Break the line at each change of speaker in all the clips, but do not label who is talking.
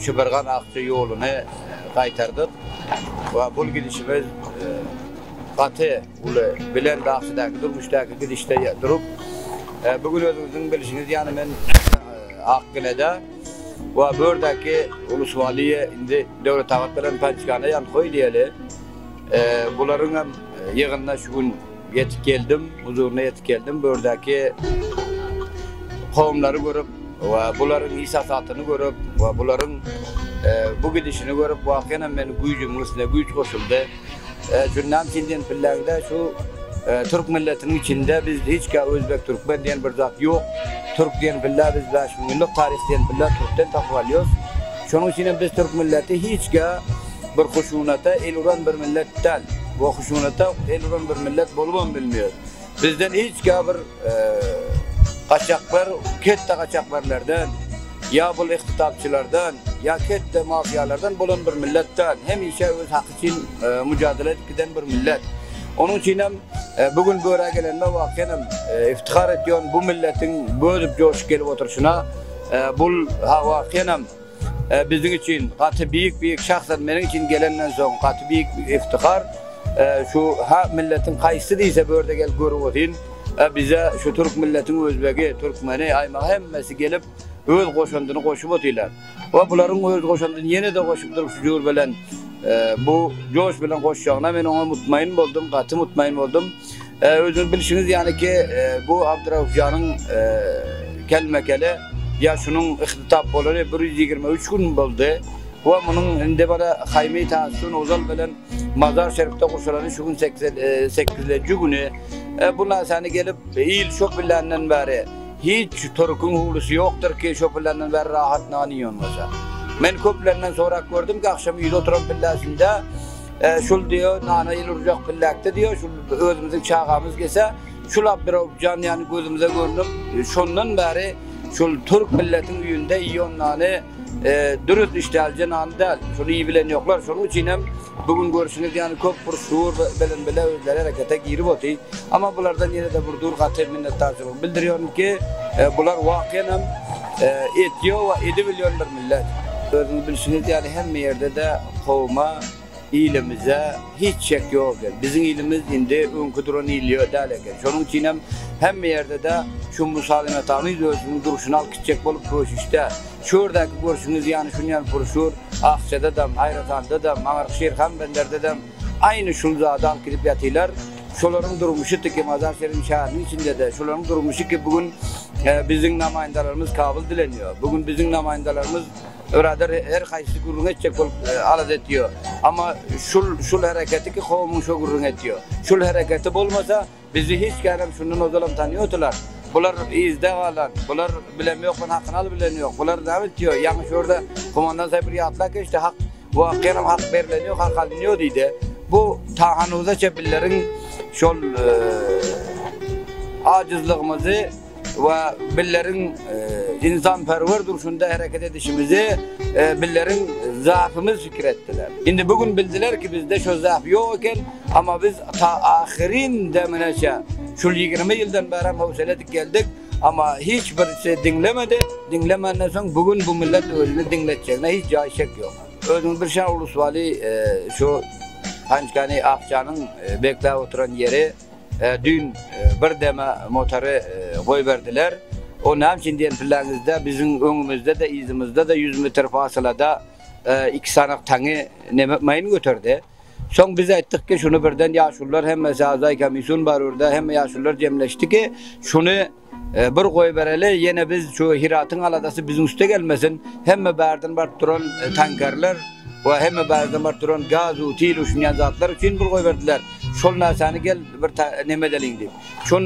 Şübirgaz akja ýoluny gaýtardyk we bul gidişimiz gaty uly bilen dagçadaki durmuşdaki gidişde durup bu gün özüňiziň bilişiňiz ýaly men Akgelede we bu ýerdäki ulus waliye indi Döwletabat bilen Pançgana ýankoý diýeli bularyň hem ýygynna şu gün Ýetip geldim, huzuryna ýetip geldim. Bu ýerdäki kowumlary görüp we bularyň iş-hasatyny görüp we bularyň bu gidişini görüp, wakyýanam meniň güýjümiň üstüne güýç goşuldy. Şundan tilden pilleňde şu türk milletiniň içinde biz hiç ka özbek, türkmen diýen bir zat ýok. Türk diýen pille biz bäş müň ýyllyk taryh diýen pille türkden tapyp alýarys. Şonuň üçinem biz türk milleti hiç ka Bir huşunata el uran bir millet dal. We huşunata el uran bir millet bolubam bilmeýär. Bizden hiç ka bir gaçaklar ketde gaçakberlerden, ýa bul ihtitabçylardan, ýa ketde mafiýalardan bolan bir millet dal. Hemişe öz haky üçin mujadala edip giden bir millet. Onuň üçinem bu gün bu ýere gelenime wakyýanam iftihar etýon. Bu milletiň bözüp joşup gelip oturşyna bul ha wakyýanam. Biziň üçin gaty beýik beýik şahslar meniň üçin gelenden soň gaty beýik iftihar şu ha milletiň haýsy diýse börde gelip görüwozin bize şu türk milletiň özbegi türkmeni aýmaga hemmesi gelip öz goşandyny goşup otylar we bularyň öz goşandyny ýenede goşup durup şu jur bilen bu joş bilen goşjagyna men oňa mutmaýyn boldum gaty mutmaýyn boldum. E, özüňiz bilşiňiz ýaly ki, e, bu Abduraufjanyň e, kelme-kele ýaşynyň ihtisap bolany 123 gün boldy. We munuň indi bana Haýmy Tasun Ozal bilen Mazar Şerifde guşalany şu gün 8-nji e, güni. E, bu naşany gelip, il şo biländen bäri hiç türküň howlusy ýokdur ki, şo biländen bäri rahat nany ýonmasa. Men köplerinden sorap gördüm ki, agşam ýüz oturan pilläsinde Şul diýo nana il urjak pillakde diýo şul özümiziň çagamyz gelse şul Abdyrowjan ýany gözümize görnüp şondan bäri şul türk milletiň üýünde iýon nany dürüst işdälje nany däl şuny iý bilen ýoklar şonuň üçin hem bu gün görşüňiz ýany köp bir şuur bilen bile özleri herekete girip oty ama bulardan ýene de bir dur gaty minnetdarçylygy bildirýorin ki bular wakyýan hem etýo we edibilýon bir Millet, özüňiz bilşiňiz ýaly hemme ýerde-de kowuma, ilimize hiç çek ýok eken. Biziň ilimiz indi öňki duran il däl eken. Şonuň üçinem hemme ýerde-de şu Musaly Metanyýew özüniň durşuny alyp gitjek bolup göçüşde. Şu ýerdäki görşüňiz ýaly şun ýaly purşur Akjadadam, Aýratandadam, Maňarşir Hanbenderdedem aýny şul zady alyp gidip ýatylar. Şolaryň durmuşy tiki Mazar Şerif şäheriniň içinde-de şolaryň durmuşy ki bu gün biziň namaýyndalarymyz kabyl dilenýär. Bu gün biziň namaýyndalarymyz biradar her haýsy gürrüň etjek bolup alada etýär. Amma şul şul hereketi ki kowumyň şo gürrüň etýär. Şul hereketi bolmasa bizi hiç kärem şundan ozalam tanýardylar. Bular yzda galan, bular bilemýokman hakyny alyp bilenýok. Bular näme etýär? Ýaňy şurada komandan saýpur ýatlap geçdi. Hak Bu hakdanam hak berlen ýok, hak alynýo diýdi. Bu ta hanuzaça billeriň şol ajyzlygymyzy we billeriň ynsanperwer durşunda hereket edişimizi billeriň zafymyz pikir etdiler. Indi bu gün bildiler ki bizde şo zaf ýok eken, amma biz ta ahyryn demine çen, şul ýigrimi ýyldan bärem howsala edip geldik. Amma hiç birisi diňlemedi. Diňlemenden soň bu gün bu millet özüni diňletjegine hiç jaý şek ýok. Özüňiz bilşan ulus waly şu Hançkany Akjanyň bekläp oturan ýeri düýn bir deme motary goýberdiler. O näme üçin diýen pilläňizde biziň öňümizde-de, yzymyzda-da ýüz metr fasylada iki sanak taňy neme maýyn göterdi. Soň biz aýtdyk ki, şuny birden ýaşulular hemme Şazaý Komisýun bar ýurda, hemme ýaşulular jemleşdi ki, şuny bir goýbereli, ýene biz şu Hyratyň aladasy biziň üste gelmesin, hemme bärden baryp duran tankerler we hemme bärden baryp duran gaz-u-til uşunýan zatlar üçin bir goýberdiler, şol närsani gel bir neme edeliň diýip. Şol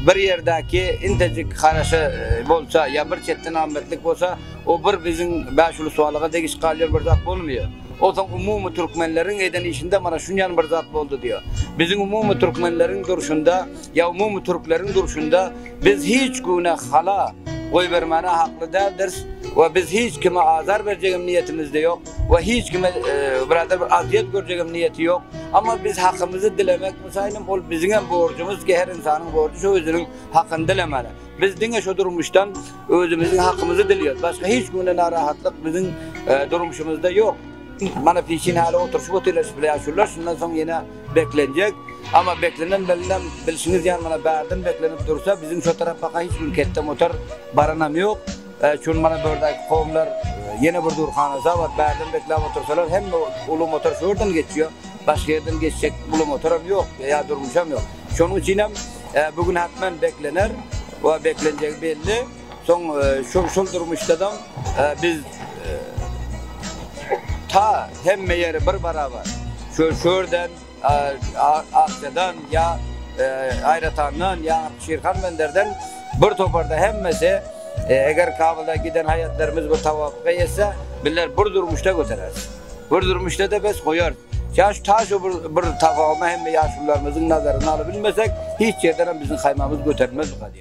bir ýerdäki intejik haraşa bolsa ýa bir çetden amatlyk bolsa, o bir biziň bäş ulusbalyga degiş galýar bir zat bolmaýar. Onsoň umumy türkmenleriň eden işinde mana şunýan bir zat boldy diýýär. Biziň umumy türkmenleriň durşunda ýa umumy türkleriň durşunda biz hiç güne hala goýbermäne hakly däldiris we biz hiç kime azar berjegem niýetimizde ýok we hiç kime biradar bir azýet görjegem niýeti ýok. Emma biz hakymyzy dilemek Şaýnam ol biziňem borjumyz ki her ynsanyň borjy şo özüniň hakyny dilemeli. Biz diňe şo durmuşdan özümiziň hakymyzy dilýäs. Başga hiç günde narahatlyk biziň durmuşymyzda ýok. Mana piçin häli oturşyp otyrlar şpleaşurlar şundan soň ýene beklenjek. Amma beklenen bilinem bilşiňiz ýaly mana bärden beklenip dursa biziň şo tarapaka hiç bir ketde motor baranam ýok. Şuny mana bördäki kowumlar ýene bir dur hanaja bar, bärden bekläp otursalar hemme uly motor şu ýerden geçýär, başga ýerden geçjek uly motoram ýok ýa durmuşam ýok. Şonuň üçinem bu gün hatman beklener we beklenjegi belli. Soň şol durmuşdadam biz ta hemme ýeri bir barabar şu ýerden, Akjadan ýa Aýratandan ýa Şirhan Benderden bir toparda hemmesi eger Kabyla giden haýatlarymyz bir tawapyga ýetse bizler bir durmuşda götereris. Bir durmuşda-da bes goýarys. Ýa şu ta şu bir tafawumy hemme ýaşulularymyzyň nazaryna alybilmesek hiç ýerdenem biziň haýmamyz göterilmez bu gadyýan.